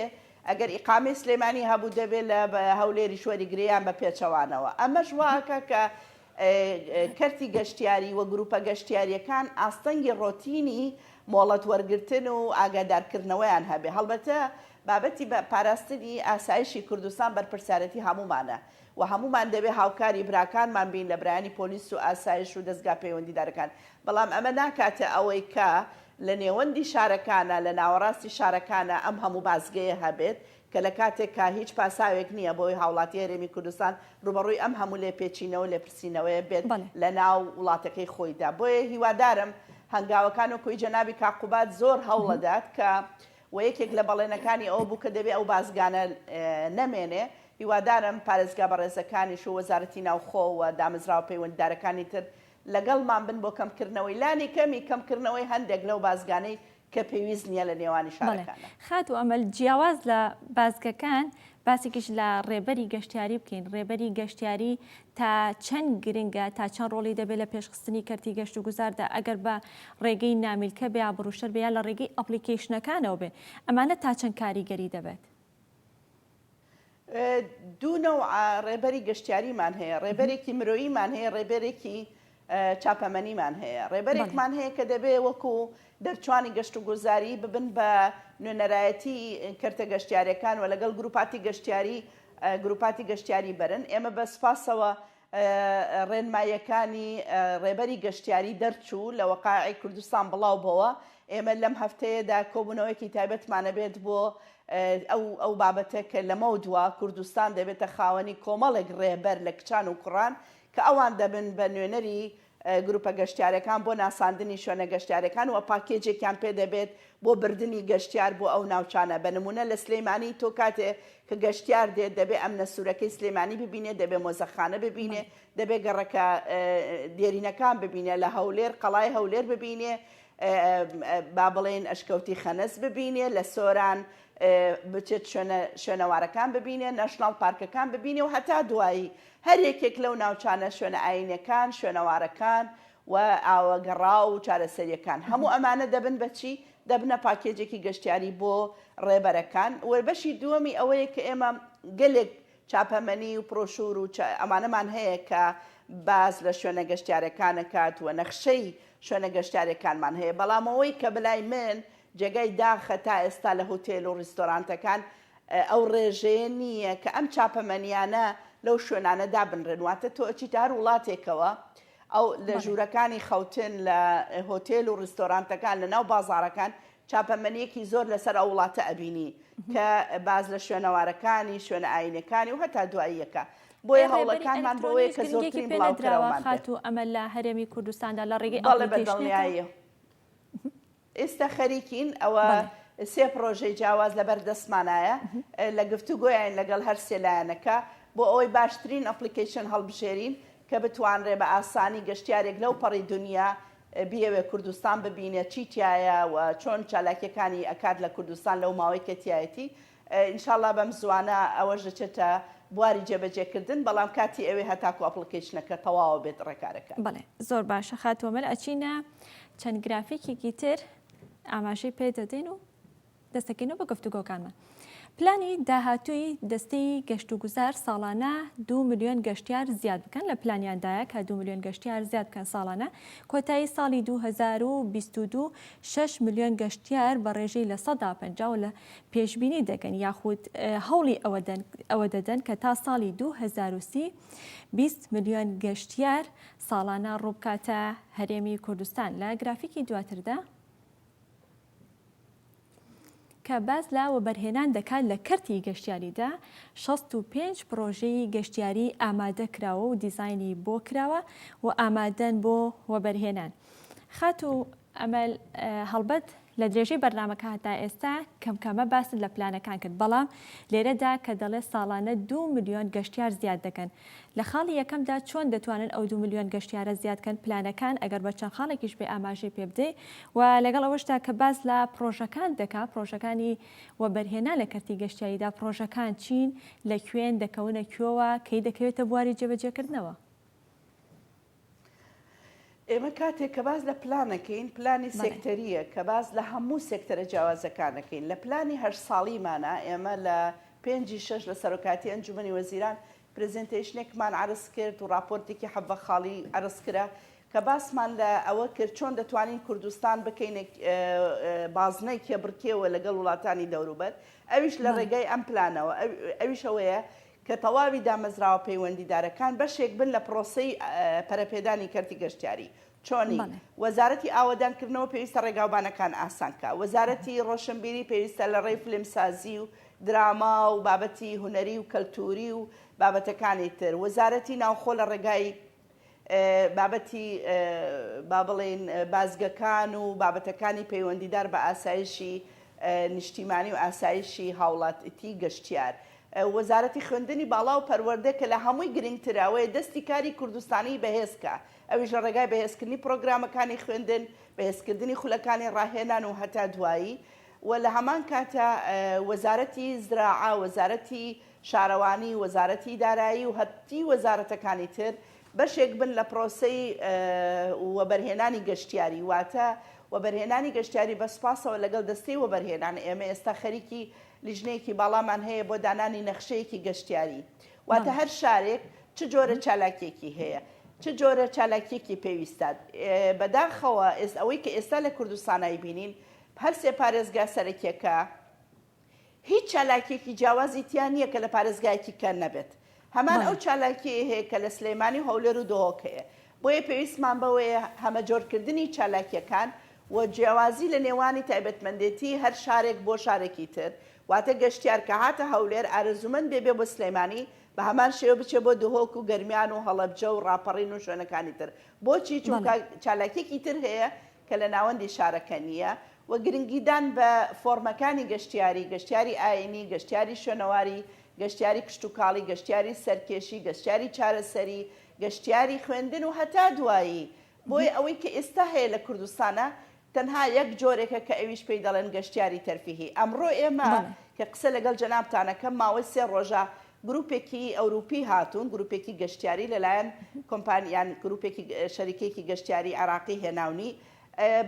ئەگەر ئیقامەی سلێمانی هەبوو دەبێت لە هەولێریش وەریگرێ یان بە پێچەوانەوە ئەمەش وا ئەکا کە کەرتی گەشتیاری و گروپە گەشتیاریەکان ئاستەنگی ڕۆتینی مۆڵەت وەرگرتن و ئاگادارکردنەوەیان هەبێ هەڵبەتە بابەتی پاراستنی ئاسایشی کوردستان بەرپرسیارەتی هەموومانە وە هەموومان دەبێ هاوکاری براکانمان بین لە برایانی پۆلیس و ئاسایش و دەزگا پەیوەندیدارەکان بەڵام ئەمە ناکاتە ئەوەی کە لە نێوەندی شارەکانا لە ناوەڕاستی شارەکانا ئەم هەموو بازگەیە هەبێت کە لە کاتێکا هیچ پاساوێک نییە بۆ ئەوەی هاوڵاتی هەرێمی کوردستان ڕووبەڕووی ئەم هەموو لێپێچینەوە و لێپرسینەوەیە بێت بەڵێ. لە ناو وڵاتەکەی خۆیدا بۆیە هیوادارم هەنگاوەکان وەکوی جەنابی کاک قوباد زۆر هەوڵەدات کە وە یەکێک لە بەڵێنەکانی ئەوە بوو کە دەبێ ئەو بازگانە نەمێنێ، هیوادارم پارێزگا بەڕێزەکانیش و وەزارەتی ناوخۆ و دامەزراوە پەیوەندیدارەکانی تر لەگەڵمان بن بۆ کەمکردنەوەی لانی کەمی کەمکردنەوەی هەندێک لەو بازگانەی کە پێویست نییە لە نێوانی بەڵێ شارەکاندا. خاتوو ئەمەل، جیاواز لە بازگەکان باسێکیش لە ڕێبەری گەشتیاری بکەین، ڕێبەری گەشتیاری تا چەند گرنگە، تا چەند ڕۆڵی دەبێت لە پێشخستنی کەرتی گەشتوگوزاردا، ئەگەر بە ڕێگەی نامیلکە بێ ئابڕووشەر بێ یا لە ڕێگەی ئەپڵیکەیشنەکانەوە بێ، ئەمانە تا چەند کاریگەری دەبێت؟ دوو نەوعە ڕێبەری گەشتیاریمان هەیە، ڕێبەرێکی مرۆییمان هەیە، ڕێبەرێکی چاپەمەنیمان هەیە، ڕێبەرێکمان هەیە کە دەبێ وەکو دەرچوانی گەشتوگوزاری ببن بە نوێنەرایەتی کەرتە گەشتیارەکان و لەگەڵ گروپاتی گەشتیاری گروپاتی گەشتیاری بەرن، ئێمە بە سپاسەوە ڕێنماییەکانی ڕێبەری گەشتیاری دەرچوو لە وەقائعی کوردستان بڵاو بۆوە، ئێمە لەم هەفتەیەدا کۆبوونەوەیەکی تایبەتمان ئەبێت بۆ ئەو ئەو بابەتە کە لەمەودوا کوردستان دەبێتە خاوەنی کۆمەڵێک ڕێبەر لە کچان و کوڕان کە ئەوان دەبن بە نوێنەری گروپە گەشتیارەکان بۆ ناساندنی شوێنە گەشتیارەکان و پاکێجێکیان پێ دەبێت بۆ بردنی گەشتیار بۆ ئەو ناوچانە بە نمونە لە سلیمانی تۆ کاتێ کە گەشتیار دێت دەبێ ئەمنە سورەکەی سلیمانی ببینێ دەبێ مۆزەخانە ببینێ دەبێ گەڕەکە دێرینەکان ببینێ لە هەولێر قەڵای هەولێر ببینێ با بڵێن ئەشکەوتی خەنەس ببینێ لە سۆران بچێت شوێنەوارەکان ببینێ نەشناڵ پارکەکان ببینێ و هەتا دوایی هەر یەکێک لەو ناوچانە، شوێنە ئایینیەکان، شوێنەوارەکان و ئاوە گەڕاو و چارەسەریەکان، هەموو ئەمانە دەبن بە چی؟ دەبنە پاکێجێکی گەشتیاری بۆ ڕێبەرەکان و بەشی دووەمی ئەوەیە کە ئێمە گەلێک چاپەمەنی و پرۆشور و ئەمانەمان هەیە کە باس لە شوێنە گەشتیارەکان ئەکات و نەخشەی شوێنە گەشتیارەکانمان هەیە، بەڵام ئەوەی کە بەلای من جێگای داخە تا ئێستا لە هوتێل و ڕیستۆرانتەکان ئەو ڕێژەیە نییە کە ئەم چاپەمەنییانە لەو شوێنانە دابنرێن، واتە تۆ ئەچیتە هەر وڵاتێکەوە، ئەو لە ژوورەکانی خەوتن، لە هۆتێل و ڕیستۆرانتەکان، لە ناو بازاڕەکان چاپەمەنییەکی زۆر لەسەر ئەو وڵاتە ئەبینی کە باس لە شوێنەوارەکانی، شوێنە ئایینیەکانی و هەتا دواییەکە. بۆیە هەوڵەکانمان بۆوەیە کە زۆرترین بڵاوکراومان بێت. بەڵێ بە دڵنیاییەوە. ئێستا خەریکین ئەوە سێ پڕۆژەی جیاواز لەبەر دەستمانایە لە گفتوگۆیاین لەگەڵ هەر سێ لایەنەکە بۆ ئەوەی باشترین ئەپڵیکەیشن هەڵبژێرین کە بتوانرێ بە ئاسانی گەشتیارێک لەو پەڕی دونیا بیەوێ کوردستان ببینێ چی تیایە و چۆن چالاکیەکانی ئەکات لە کوردستان لەو ماوەی کە تیایەتی انشاللە بەم زوانە ئەوەش دەچێتە بواری جێبەجێ کردن بەڵام کاتی ئەوێ هەتاکو ئەپڵکەیشنەکە تەواوە بێت ڕێکارەکە. بەڵێ زۆر باشە خاتوو ئەمەل ئەچینە چەند گرافیکێکی تر ئاماژەی پێ دەدەین و دەستەکەینەوە بە گفتوگۆکانمان پلانی داهاتووی دەستی گەشت و گوزار ساڵانە دو میلیۆن گەشتیار زیاد بکەن لە پلانیاندایە کە دو میلیۆن گەشتیار زیاد بکەن ساڵانە کۆتایی ساڵی 2022 6 میلیۆن گەشتیار بە ڕێژەی لە سەدا پەنجا و لە پێشبینی دەکەن یاخود هەوڵی ئەوە دەدەن کە تا ساڵی 2030 20 ملیۆن گەشتیار ساڵانە ڕووبکاتە هەرێمی کوردستان لە گرافیکی دواتردا کە باز لە وەبەرهێنان دەکات لە کەرتی گەشتیاریدا 65 پرۆژەی گەشتیاری ئامادە کراوە و دیزایانی بۆ کراوە و ئامادەن بۆ وەبەرهێنان خاتو ئەمەل، هەڵبەت لە درێژەی بەرنامەکە هەتا ئێستا کەم کەمە باست لە پلانەکان کرد، بەڵام لێرەدا کە دەڵێت ساڵانە دوو ملیۆن گەشتیار زیاد دەکەن، لە خاڵی یەکەمدا چۆن دەتوانن ئەو دوو ملیۆن گەشتیارە زیاد کەن، پلانەکان ئەگەر بە چەند خاڵێکیش بێ ئاماژەی پێ بدەی و لەگەڵ ئەوەشدا کە باس لە پڕۆژەکان دەکا، پڕۆژەکانی وەبەرهێنان لە کەرتی گەشتیاریدا پڕۆژەکان چین، لە کوێن، دەکەونە کوێوە، کەی دەکەوێتە بواری جێبەجێکردنەوە؟ ئێمە کاتێک کە باس لە پلان ئەکەین، پلانی سێکتەرییە کە باس لە هەموو سێکتەرە جیاوازەکان ئەکەین. لە پلانی هەشت ساڵیمانا، ئێمە لە پێنجی شەش لە سەرۆکایەتی ئەنجوومەنی وەزیران پرێزێنتەیشنێکمان عەرز کرد و ڕاپۆرتێکی حەڤە خاڵی عەرز کرا کە باسمان لە ئەوە کرد چۆن دەتوانین کوردستان بکەینە بازنەی کێبڕکێوە لەگەڵ وڵاتانی دەوروبەر، ئەویش لە ڕێگای ئەم پلانەوە، ئەویش ئەوەیە کە تەواوی دامەزراوە پەیوەندیدارەکان بەشێک بن لە پرۆسەی پەرەپێدانی کەرتی گەشتیاری، چۆنی؟ وەزارەتی ئاوەدانکردنەوە پێویستە ڕێگاوبانەکان ئاسان بکات، وەزارەتی ڕۆشنبیری پێویستە لە ڕێی فیلمسازی و دراما و بابەتی هونەری و کەلتووری و بابەتەکانی تر، وەزارەتی ناوخۆ لە ڕێگای. بابەتی با بڵێین بازگەکان و بابەتەکانی پەیوەندیدار بە ئاسایشی نیشتیمانی و ئاسایشی هاوڵاتی گەشتیار. وەزارەتی خوێندنی باڵا و پەروەردە کە لە هەمووی گرنگتر ئەوەیە دەستی کاری کوردستانی بەهێز کا، ئەویش لە ڕێگای بەهێزکردنی پرۆگرامەکانی خوێندن، بەهێزکردنی خولەکانی ڕاهێنان و هەتا دوایی و لە هەمان کاتە وەزارەتی زراعە، وەزارەتی. شارەوانی، وەزارەتی دارایی و هەرتی وەزارەتەکانی تر بەشێک بن لە پرۆسەی وەبەرهێنانی گەشتیاری، واتە وەبەرهێنانی گەشتیاری بە سوپاسەوە لەگەڵ دەستەی وەبەرهێنان ئێمە ئێستا خەریکی لیژنەیەکی باڵامان هەیە بۆ دانانی نەخشەیەکی گەشتیاری واتە هەر شارێک چ جۆرە چالاکیەکی هەیە چ جۆرە چالاکیەکی پێویستە بەداخەوە ئێست ئەوەی کە ئێستا لە کوردستانای بینین هەرسێ پارێزگا سەرەکیەکە هیچ چالاکیەکی جیاوازی تیا نیە کە لە پارێزگایەکی کە نەبێت هەمان ئەو چالاکیەی هەیە کە لە سلێمانی و هەولێر و دهۆک هەیە بۆیە پێویستمان بەوەیە هەمەجۆرکردنی چالاکیەکان و جیاوازی لە نێوانی تایبەتمەندێتی هەر شارێک بۆ شارێکی تر واتە گەشتیار کە هاتە هەولێر ئارەزومەند بێ بێ بۆ سلێمانی بە هەمان شێوە بچێ بۆ دهۆک و گەرمیان و هەڵەبجە و ڕاپەڕین و شوێنەکانی تر بۆچی چونکە چالاکیەکی تر هەیە کە لە ناوەندی شارەکە نییە، و گرنگیدان بە فۆڕمەکانی گەشتیاری، گەشتیاری ئایینی، گەشتیاری شوێنەواری، گەشتیاری کشتوکاڵی، گەشتیاری سەرکێشی، گەشتیاری چارەسەری، گەشتیاری خوێندن و هەتا دوایی، بۆیە ئەوەی کە ئێستا هەیە لە کوردستانا تەنها یەک جۆرێکە کە ئەویش پێی دەڵێن گەشتیاری تەرفیهی، ئەمڕۆ ئێمە کە قسە لەگەڵ جەنابتان ئەکەم ماوەی سێ ڕۆژە گروپێکی ئەوروپی هاتوون گروپێکی گەشتیاری لەلایەن کۆمپانی یان گروپێکی شەریکێکی گەشتیاری عێراقی هێناونی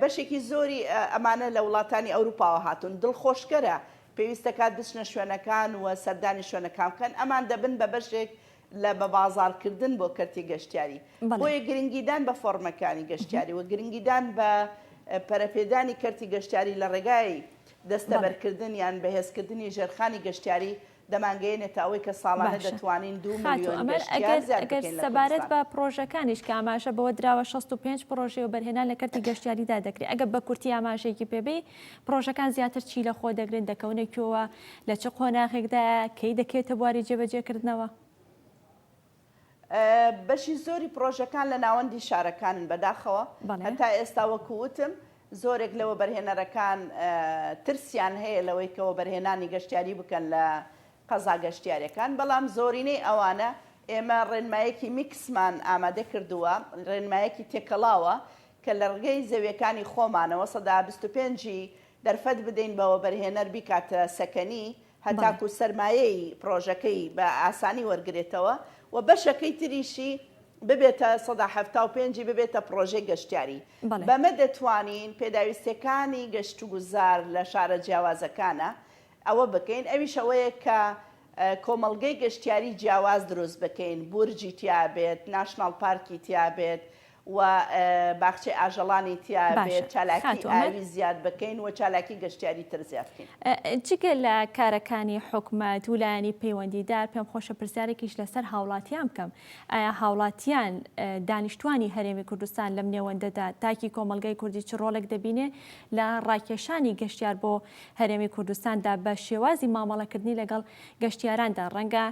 بەشێکی زۆری ئەمانە لە وڵاتانی ئەوروپاوە هاتوون دڵخۆشکەرە پێویستەکات بچنە شوێنەکان و سەردانی شوێنەکان بکەن ئەمان دەبن بە بەشێک لە بە بازاڕکردن بۆ کەرتی گەشتیاری بۆیە گرنگیدان بە فۆرمەکانی گەشتیاری و گرنگیدان بە پەرەپێدانی کەرتی گەشتیاری لە ڕێگای دەستەبەرکردن یان بەهێزکردنی ژێرخانی گەشتیاری دەمانگەیەنێتە ئەوەی کە ساڵانە دەتوانین دوو ملیۆن گەشتیار زیاد بکەین لە کوردستان. باشە، ئەگەر سەبارەت بە پڕۆژەکانیش کە ئاماژە بەوە دراوە شەست و پێنج پڕۆژەی وەبەرهێنان لە کەرتی گەشتیاریدا دەکرێت، ئەگەر بە کورتی ئاماژەیەکی پێ بەی، پڕۆژەکان زیاتر چی لەخۆ دەگرن، دەکەونە کوێوە، لە چ قۆناغێکدایە، کەی دەکەوێتە بواری جێبەجێکردنەوە؟ بەشی زۆری پڕۆژەکان لە ناوەندی شارەکانن بەداخەوە هەتا ئێستا وەکووتم زۆرێک لە وەبەرهێنەرەکان ترسیان هەیە لەوەی کە وەبەرهێنانی گەشتیاری بکەن لە قەزا گەشتیارەکان بەڵام زۆرینەی ئەوانە ئێمە ڕێنمایەکی میکسمان ئامادە کردووە ڕێنمایەکی تێکەڵاوە کە لە ڕگەی زەویەکانی خۆمانەوە سەدا 25 دەرفەت بدەین بەوە بەرهێنەر بیکاتە سەکەنی هەتاکوو سەرمایەی پڕۆژەکەی بە ئاسانی وەرگرێتەوە و بەشەکەی تریشی ببێتە سەدا حەفتا و پێنج ی ببێتە پڕۆژەی گەشتیاری. بەمە دەتوانین پێداویستییەکانی گەشتوگوزار لە شارە جیاوازەکانە ئەوە بکەین، ئەویش ئەوەیە کە کۆمەڵگەی گەشتیاری جیاواز دروست بکەین، بورجی تیا بێت، ناشناڵ پارکی تیا بێت و باخچەی ئاژەڵانی تیا بێت، چالاکی ئاوی زیاد بکەین و چالاکی گەشتیاری تر زیاد بکەین. جگە لە کارەکانی حکومەت ولایەنی پەیوەندیدار پێم خۆشە پرسیارێکیش لەسەر هاوڵاتیان بکەم، ئایا هاوڵاتیان دانیشتوانی هەرێمی کوردستان لەم نێوەندەدا تاکی کۆمەڵگای کوردی چ ڕۆڵێک دەبینێ لە ڕاکێشانی گەشتیار بۆ هەرێمی کوردستاندا بە شێوازی مامەڵەکردنی لەگەڵ گەشتیاراندا ڕەنگە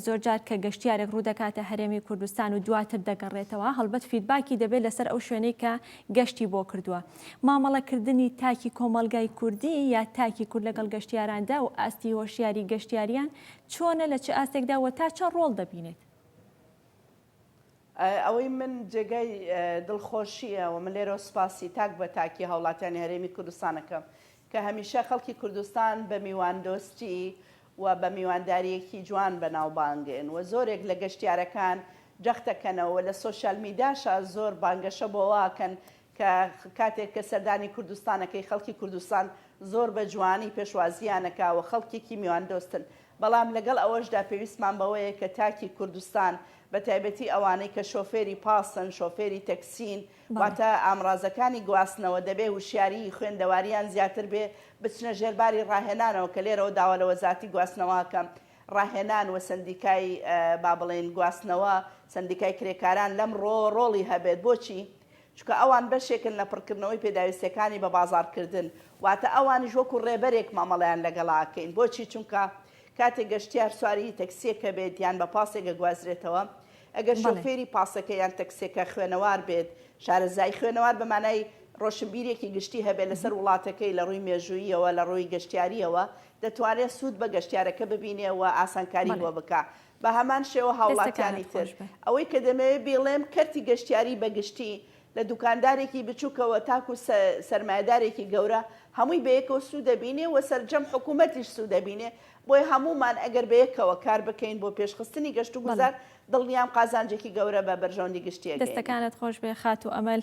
زۆرجار کە گەشتیارێک ڕوودەکاتە هەرێمی کوردستان و دواتر دەگەڕێتەوە، هەڵبەت فیدباکی دەبێت لەسەر ئەو شوێنەی کە گەشتی بۆ کردووە. مامەڵەکردنی تاکی کۆمەڵگای کوردی یا تاکی کورد لەگەڵ گەشتیاراندا و ئاستی هۆشیاری گەشتیاریان چۆنە، لە چ ئاستێکدا و تا چەند ڕۆڵ دەبینێت؟ ئەوەی من جێگای دڵخۆشییە و من لێرەوە سوپاسی تاک بە تاکی هاوڵاتیانی هەرێمی کوردستان ئەکەم کە هەمیشە خەڵکی کوردستان بە میواندۆستی و بە میواندارییەکی جوان بەناوبانگن و زۆرێک لە گەشتیارەکان جەختەکەنەوە و لە سۆشیال میداشا زۆر بانگەشە بۆ ئەوە ئەکەن کە کاتێک کە سەردانی کوردستان ئەکەی خەڵکی کوردستان زۆر بە جوانی پێشوازییان ئەکا و خەڵکێکی میواندۆستن بەڵام لەگەڵ ئەوەشدا پێویستمان بەوەیە کە تاکی کوردستان بە تایبەتی ئەوانەی کە شۆفێری پاسن شۆفێری تەکسین واتە ئامڕازەکانی گواستنەوە دەبێ وشیاریی خوێندەوارییان زیاتر بێ بچنە ژێر باری ڕاهێنانەوە کە لێرەوە داوا لە وەزارەتی گواستنەوە ئەکەم ڕاهێنان و سەندیکای با بڵێین گواستنەوە سەندیکای کرێکاران لەمڕۆوە ڕۆڵی هەبێت بۆچی؟ چونکە ئەوان بەشێکن لە پڕکردنەوەی پێداویستیەکانی بە بازاڕکردن، واتە ئەوانیش وەکو ڕێبەرێک مامەڵەیان لەگەڵا ئەکەین، بۆچی چونکە کاتێک گەشتیار سواری تەکسیەکە بێت یان بە پاسێک ئەگوازرێتەوە ئەگەر شۆفێری پاسەکە یان تەکسیەکە خوێنەوار بێت شارەزای خوێنەوار بە مانای ڕۆشنبیرێکی گشتی هەبێت لەسەر وڵاتەکەی لە ڕووی مێژووییەوە لە ڕووی گەشتیارییەوە دەتوانێت سوود بە گەشتیارەکە ببینێ و ئاسانکاری بۆ بکا بە هەمان شێوە هاوڵاتیانی تر. ئەوەی کە دەمەوێت بیڵێم کەرتی گەشتیاری بە گشتی، لە دوکاندارێکی بچووکەوە تاکو سەرمایەدارێکی گەورە، هەمووی بە یەکەوە سوود دەبینێ و سەرجەم حکوومەتیش سوود دەبینێ، بۆیە هەموومان ئەگەر بە یەکەوە کار بکەین بۆ پێشخستنی گەشتوگوزار، دڵنیام قازانجێکی گەورە بە بەرژەوەندی گشتی ئەگەیەنین. دەستەکانت خۆش بێ خاتوو ئەمەل.